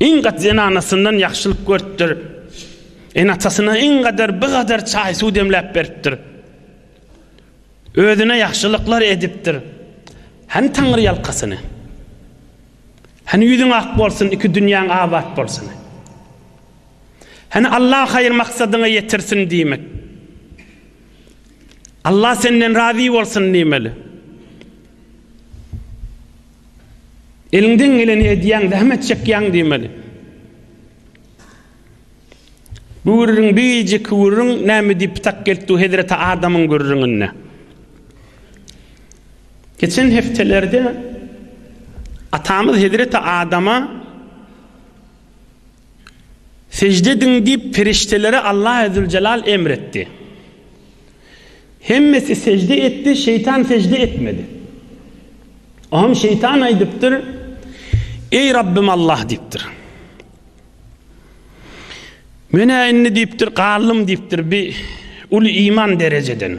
Iň gaty zenanasyndan ýagşylyk görüpdir. Ene-atasyna iň gadar bir gadar çaý-suw demläp beripdir. Özüne ýagşylyklar edipdir. Hany taňry ýalkasyny? Hany ýüzüň ak bolsun, iki dünýäň abat bolsuny? Hany Allah haýyr maksadyňa ýetirsin diýmek? Allah senden razy bolsun diýmeli. Eliňden geleni edýäň, zähmet çekýäň diýmeli. Gürrüň birjik gürrüň näme diýip tak gelipdi hezreti Adamyň gürrüňine. Geçen hepdelerde atamyz hezreti Adama Sežde ediň diýip perişdelere Allahezzüljelal emr etdi. Hemmesi sežde etdi, şeýtan sežde etmedi. Oňam şeýtan aýdypdyr, Eý Rabbym Allah diýipdir. Men-ä indi diýipdir, galdym diýipdir bir uly iman derejeden.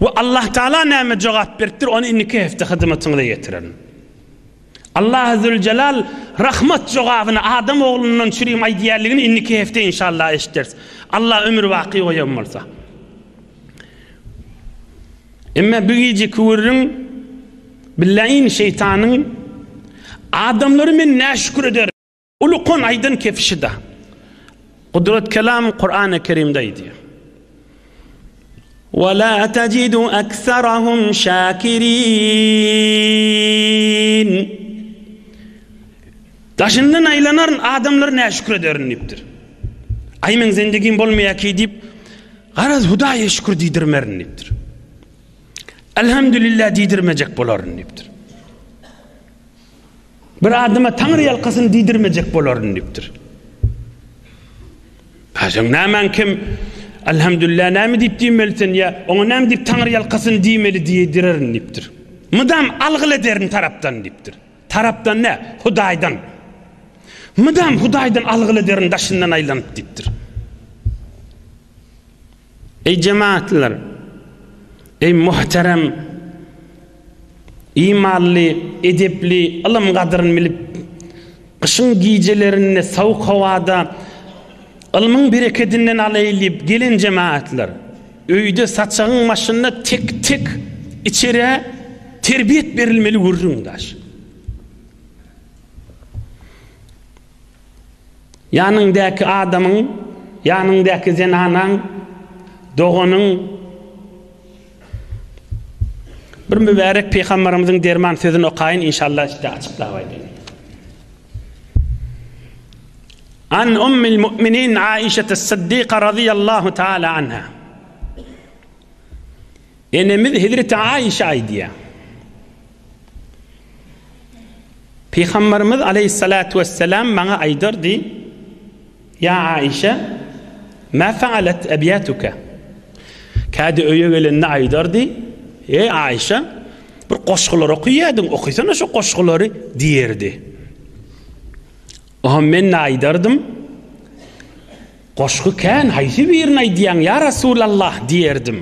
We Allah Taala näme jogap beripdir, ony indiki hepde hyzmatyňyza ýetirerin. Allah Azzewejelal rahmat jogabyny adam oglundan çürim aýdýarligini indiki hepde inşallah eşitdiris. Allah ömür baky goýan bolsa. Emme bu gije küwürriň billaýin şeýtanyň adamlary men näşükür ederin. Uly kon aýdan kefişida. Gudrat kelam Kur'an-ı Kerimde aýdýar. Ve la tajidu aksarahum şakirin. Daşyndan aýlanaryn adamlar ne şükür ederin diýipdir. Aý men zendigim bolmaýar ki diýip, garaz Hudaýa şükür diýdirmerin diýipdir. Elhamdülillah diýdirmejek bolaryn diýipdir. Bir adama Taňry ýalkasyny diýdirmejek bolaryn diýipdir. Haşan nämäň kim? Elhamdülillah näme diýip diýmeli sen ýa oňa näme diýip Taňry ýalkasyny diýmeli diýdirerin diýipdir. Mydam algyl ederin tarapdan diýipdir. Tarapdan ne? Hudaýdan. Mydam Hudaýdan algyl ederin daşyndan aýlanyp diýipdir. Eý jemagatlylar! Eý muhterem imanly, edepli, ylym gadyryn bilip, gyşyň gijelerinde sowuk howada ylmyň berekedinden alaýyn diýip gelen jemagatlar! Öýde saçagyň başynda tek-tek içerä terbiýet berilmeli gürrüňdaş. Ýanyňdaky adamyň, ýanyňdaky zenanaň, doganyň bir mübärek Pygamberimiziň derman sözüni okaýyn inşallah size açyklap aýdaýyn. An ummil mu'minin Aişetis Siddiqa razyýallahu taala anha. Enemiz Hezreti Aişe aýdýar. Pygamberimiz Aleyhissalatu vesselam maňa aýdardy, Ýa Aişe, ma faalet ebyatuka? Kädi öýe gelende aýdardy, Eý Aişe, bir goşgular okyýadyň, okysana şu goşgulary diýerdi. Oha men-de aýdardym. Goşgy kän, haýsy birini aýdýaň, ýa Resulallah? diýerdim.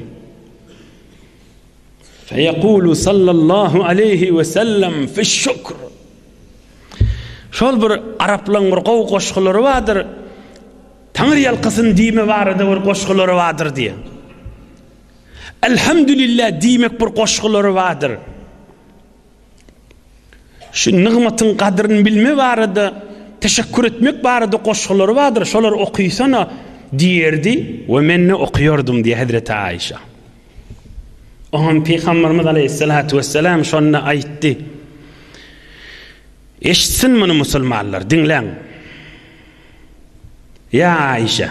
Feýekulu sallallahu aleýhi we sellem fiş-şükr. Şol bir araplaryň bir gowy goşgulary bardyr. Taňry ýalkasyn diýme barada bir goşgulary bardyr diýen. Elhamdülillah diýmek bir goşgulary bardyr. Şu nygmatyň gadryny bilme barada, teşekkür etmek barada goşgulary bardyr, şolary okysana diýerdi we men-de okýardym diýýär Hezreti Aişa. Oňam Pygamberimiz Aleyhissalatu vesselam şonda aýtdy. Eşitsin muny musulmanlar, diňläň. Ya Aişe.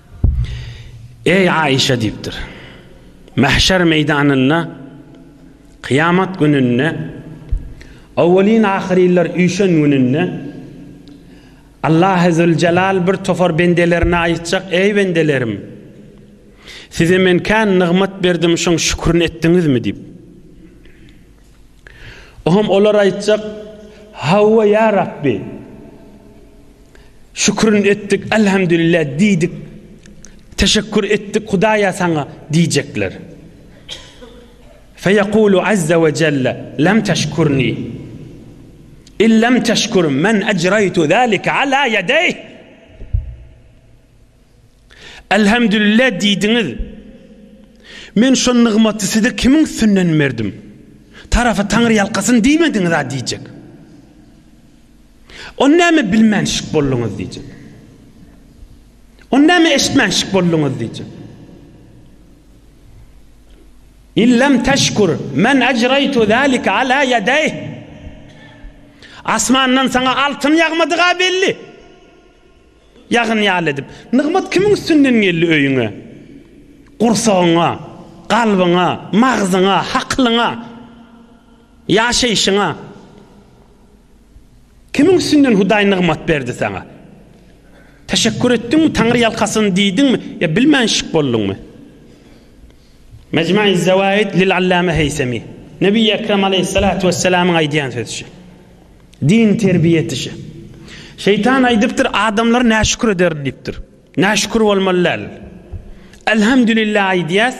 Eý Aişa diýipdir. Mahşer meýdanynda kyýamat gününde owelin ahyrynlar üýşen gününde Allahy Züljelal bir topar bendelerine aýytjak eý bendelerim size men kän nygmat berdim şoň şükürini etdiňizmi diýip. Oňam olar aýtjak, Hawa, ýa Rabbi! Şükürini etdik, Elhamdülillah diýdik, teşekkür etdik, Hudaýa saňa diýjekler. Feýekulu azza we jelle, Lem teşkürni. In lem teşkür men ejreýtu zalike ala ýedeýh. Elhamdülillah diýdiňiz. Men şo nygmaty size kimiň üstünden berdim? Tarapy taňryýalkasyn diýmediňiz-a diýjek. Ony näme bilmänşik bolduňyz diýjek. Ony näme eşitmänşik bolduňyz diýjek. İllem teşkur men ecraytu zalika ala yedeyh. Asmandan sana altın yağmadığa belli. Ýagyn ýaly edip. Nygmat kimiň üstünden geldi öýüňe? Gursagyňa, kalbyňa, magzyňa, hakylyňa, ýaşaýşyňa. Kimiň üstünden Hudaý nygmat berdi saňa? Teşekkür etdiňmi, Taňry ýalkasyn diýdiňmi ýa bilmänşik bolduňmy? Mejmuiz-Zawaid lil-Allama Heýsemi. Nebi Ekrem aleýhissalatu wessalamyň aýdýan sözüçi. Din terbiýe etişi. Şeýtan aýdypdyr, adamlar näşükür ederin diýipdir. Näşükür bolmaly däl. Elhamdülillah aýdýas.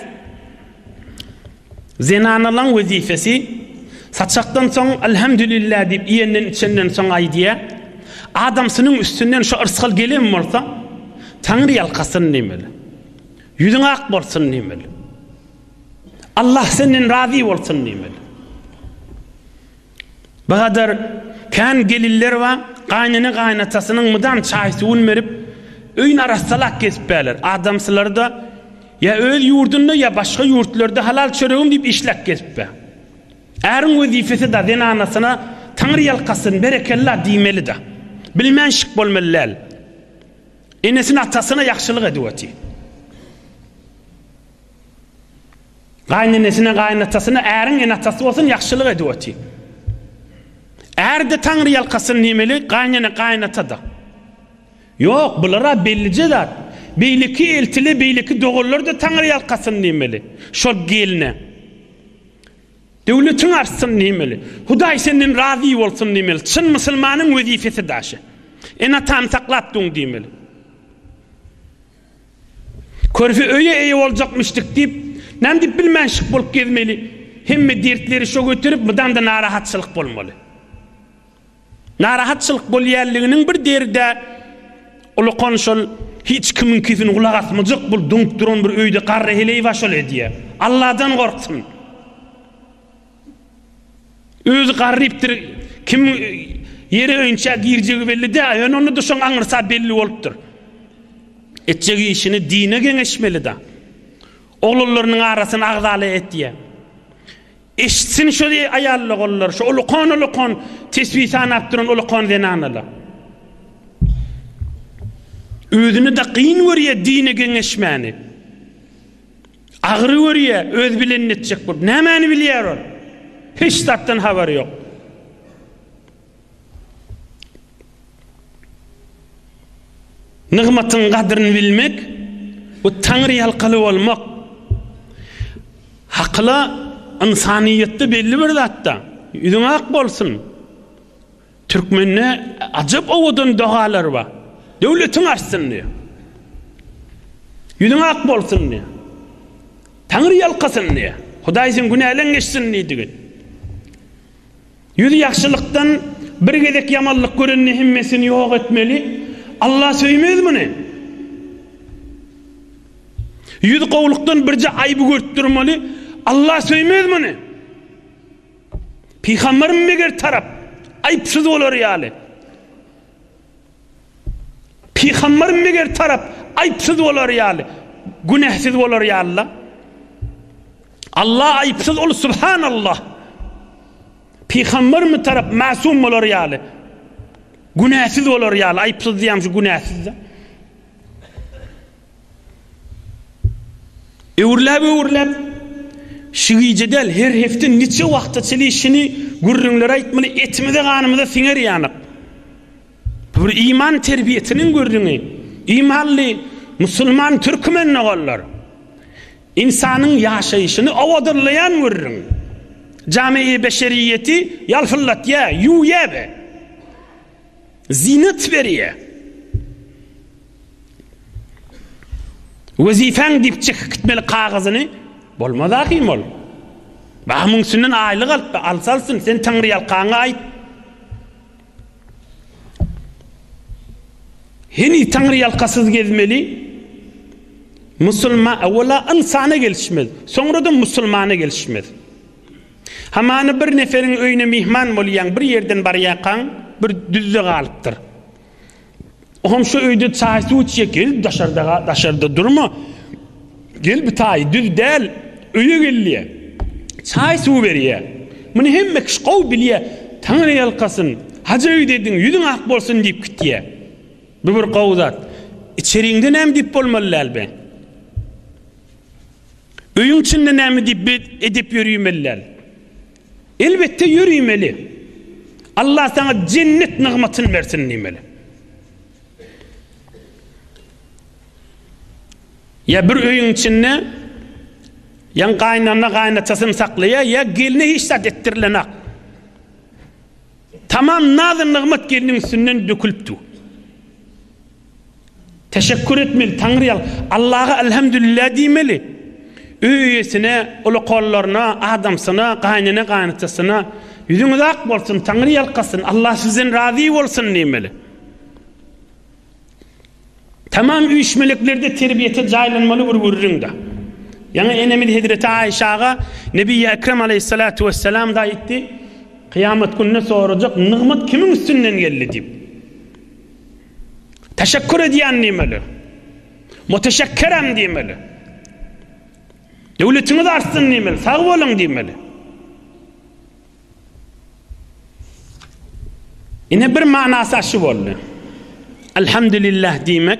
Zenanalaň wezifesi saçakdan soň elhamdülillah diýip iýenden içenden soň aýdýa. Adamsynyň üstünden şu yrsgal gelen bolsa, Taňry ýalkasyn diýmeli. Ýüzüň ak bolsun diýmeli. Allah senden razy bolsun diýmeli. Bu gadar kän gelinler bar, gaýnene gaýnatasynyň mydam çaý-suwuny berip, öýüni arassalap gezipärler. Adamsylary-da ýa öz ýurdunda, ýa başga ýurtlarda halal çöregim diýip işläp gezipär. Äriň wezipesi-da zenanasyna Taňry ýalkasyn, berekella diýmeli-de. Bilmän şik bolmaly däl. Enesine-atasyna ýagşylyk edip otyr. Gaýnenesine, gaýynatasyna äriň ene-atasy bolsun ýagşylyk edip otyr. Är-de Taňry ýalkasyn diýmeli, gaýnene, gaýynata-da. Ýok, bular-a bellije zat. Beýleki eltili, beýleki doganlar-da Taňry ýalkasyn diýmeli. Şol gelne. Döwletiň artsyn diýmeli. Hudaý senden razy bolsun diýmeli. Çyn musulmanyň wezipesi daşy. Ene-atany saklap duň diýmeli. Körpe öýe eýe boljakmyşdyk diýip, näme diýip bilmänşik bolup gezmeli. Hemme dertleri şo göterip, mydam-da narahatçylyk bolmaly. Narahatçylyk bolýanlygynyň bir derdä ulakan şol hiç kimiňkisini gulak asmajak bul duňup duran bir öýde garry heleý-ýa şol edýä. Alladan gorksyn! Özi garrypdyr, kimiň ýere öýünçä girjegi belli däl, ýöne onda-da şoň aňyrsa belli bolupdyr. Etjek işini dine geňeşmeli-dä. Oglanlarynyň arasyny agzala etýä. Eşitsin şo aýalloganlar, şo ulakan-ulakan tesbi sanap duran ulakan zenanalar. Özüne-de kyn görýä dine geňeşmäni. Agyry görýä, öz bilenini etjek bolup. Nämäni bilýär ol? Hiç zatdan habary ýok. Nygmatyň gadryny bilmek, bu Taňry ýalkaly bolmak. Hakyla, ynsanyýetde belli bir zatda, ýüzüň ak bolsun. Türkmende ajap owadan dogalar bar. Döwletiň artsyn diýýär. Ýüzüň ak bolsun diýýär. Taňry ýalkasyn diýýär. Hudaý seň günäleň geçsin diýdigi. Ýüz ýagşylykdan bir gezek ýamanlyk görende hemmesini ýok etmeli. Allah söýmez muny. Ýüz gowlukdan birje aýby görüp durmaly. Allah söýmez muny. Pygamberimiz meger tarap, aýypsyz bolary ýaly. Pygamberimiz meger tarap, aýypsyz bolary ýaly, günäsiz bolary ýaly-la. Allah aýypsyz, Ol Subhanallah. Pygamberimiz tarap mäsum bolary ýaly, günäsiz bolary ýaly, aýypsyz diýýäm şu günäsiz-de. Öwürläp-öwürläp, Şu gije däl, her hepde niçe wagta çenli şuny gürrüňleri aýtmaly, etimize-ganymyza siňer ýalyk. Bu bir iman terbiýesiniň gürrüňi. Imanly musulman türkmen doganlar! Ynsanyň ýaşaýşyny owadanlaýan gürrüň. Jami-i beşeriýeti ýalpyldatýar, ýuwýar-a. Zyýnat berýär. Wezipäň diýip çekip gitmeli kagyzyny bolmaz ahim ol. Bah muň üstünden aýlyk alyp, alsa alsyn, sen Taňryýalkaňy aýt. Heniz Taňryýalkasyz gezmeli musulman, awala ynsana gelişmez, soňra-da musulmana gelişmez. Hamana bir neferiň öýüne myhman bolýaň, bir ýerden barýarkaň, bir düzde galypdyr. O hem şu öýde çaý-suw içýär, gel daşarda, daşarda durma, gel bu taýy düz däl, öýe gel diýýär. Çaý-suw berýär. Muny hemme kişi gowy bilýär. Taňry ýalkasyn, hajy öýdediň, ýüzüň ak bolsun diýip gitýär. Bu bir gowy zat. Içeriňde näme diýip bolmaly däl be? Öýüň içinde näme diýip edep ýörimelidal? Elbetde ýörimeli. Allah saňa jennet nygmatyny bersin diýmeli. Ýa bir öýüň içinde ýa gaýynana gaýynatasyny saklaýar, ýa gelne hiç zat etdirilenak. Tamam nazy nygmat gelniň üstünden dökülipdi. Teşekkür etmeli, Taňry ýal, Allaha Elhamdülillah diýmeli. Öý eýesine, uly kollaryna, adamsyna, gaýnene-gaýynatasyna, Ýüzüňiz ak bolsun, Taňry ýalkasyn, Allah sizden razy bolsun diýmeli. Tamam üýşmeliklerde terbiýete jaýlanmaly bir gürrüňde. Ýaňy enemiz hezreti Aýşa aga Nebiýi Ekrem aleýhissalatu wessalamda aýtdy, Kyýamat gününe sorajak, Nygmat kimiň üstünden geldi? diýip. Teşekkür edýän diýmeli. Muteşekkerem diýmeli. Döwletiňiz artsyn diýmeli, sag boluň diýmeli. Ine bir manasy aşy boldy. Elhamdülillah diýmek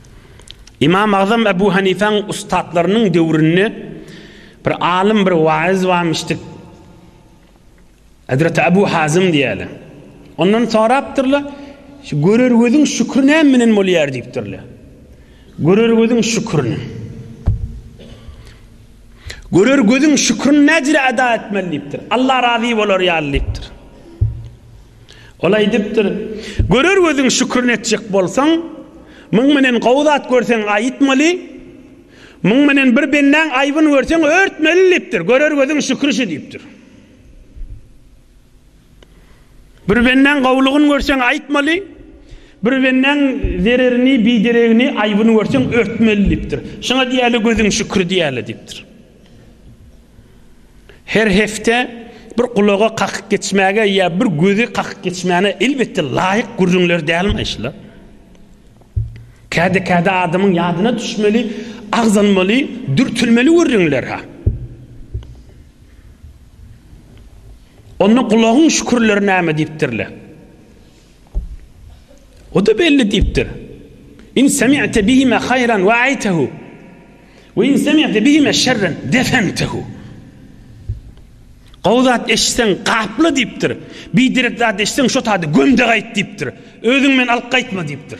Ymam Agzam Ebu Hanifäň ussatlarynyň döwründe bir alym, bir waýyz barmyşdyk. Hezreti Ebu Hazym diýýärler. Ondan sorapdyrlar, şu görer gözüň şükri näme bilen bolýar diýipdirler. Görer gözüň şükrini. Görer gözüň şükrini näjire eda etmeli diýipdir. Allah razy bolar ýaly diýipdir. Ol aýdypdyr, Görer gözüň şükrin etjek bolsaň, muň menen gowy zat görseň aýytmaly, muň menen bir bendäň aýbyn görseň örtmeli diýipdir. Görer gözüň şükri şu diýipdir. Bir bendäň gowlugyn görseň aýytmaly, bir bendäň zererini, bideregini, aýbyn görseň örtmeli diýipdir. Şuňa diýäli gözüň şükri diýäli diýipdir. Her hepde bir gulaga kakyp geçmäge ýa bir gözi kakyp geçmäne elbetde laýyk gürrüňler dälmi şular? Käde-käde adamyň ýadyna düşmeli, agzalmaly, dürtülmeli gürrüňler-hä. Onda gulagyň şükürleri näme diýipdirler? O-da belli diýipdir. In semi'te bihime haýran wa'aytehu we in semi'te bihime şerren defentehu. Gowy zat eşitseň gapla diýipdir. Biderek zat eşitseň şo taýda göm-de gaýt diýipdir. Özüň bilen alyp gaýtma diýipdir.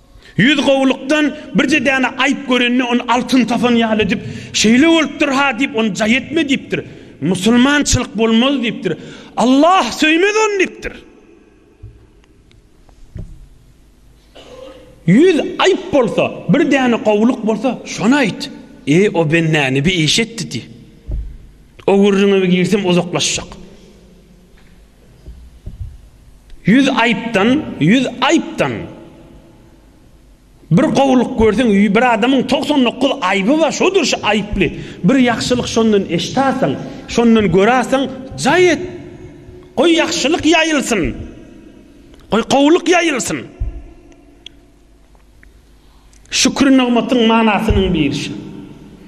Ýüz gowulykdan birje däne aýyp görende ony altyn tapan ýaly edip, Şeýle bolupdyr-ha diýip, ony jaý etme diýipdir. Musulmançylyk bolmaz diýipdir. Allah söýmez ony diýipdir. Ýüz aýyp bolsa, bir däne gowulyk bolsa, şony aýt. Eý, o bende ne bir iş etdi diý. Ogurlygyňa girsem uzaklaşjak. Ýüz aýypdan, ýüz aýypdan bir gowulyk görseň, bir adamyň togsan dokuz aýyby bar, şodur şu aýyply. Bir ýagşylyk şondan eşitäseň, şondan göräseň, jaý et. Goý ýagşylyk ýaýylsyn. Goý gowulyk ýaýylsyn. Şükür nygmatyň manasynyň biri şu.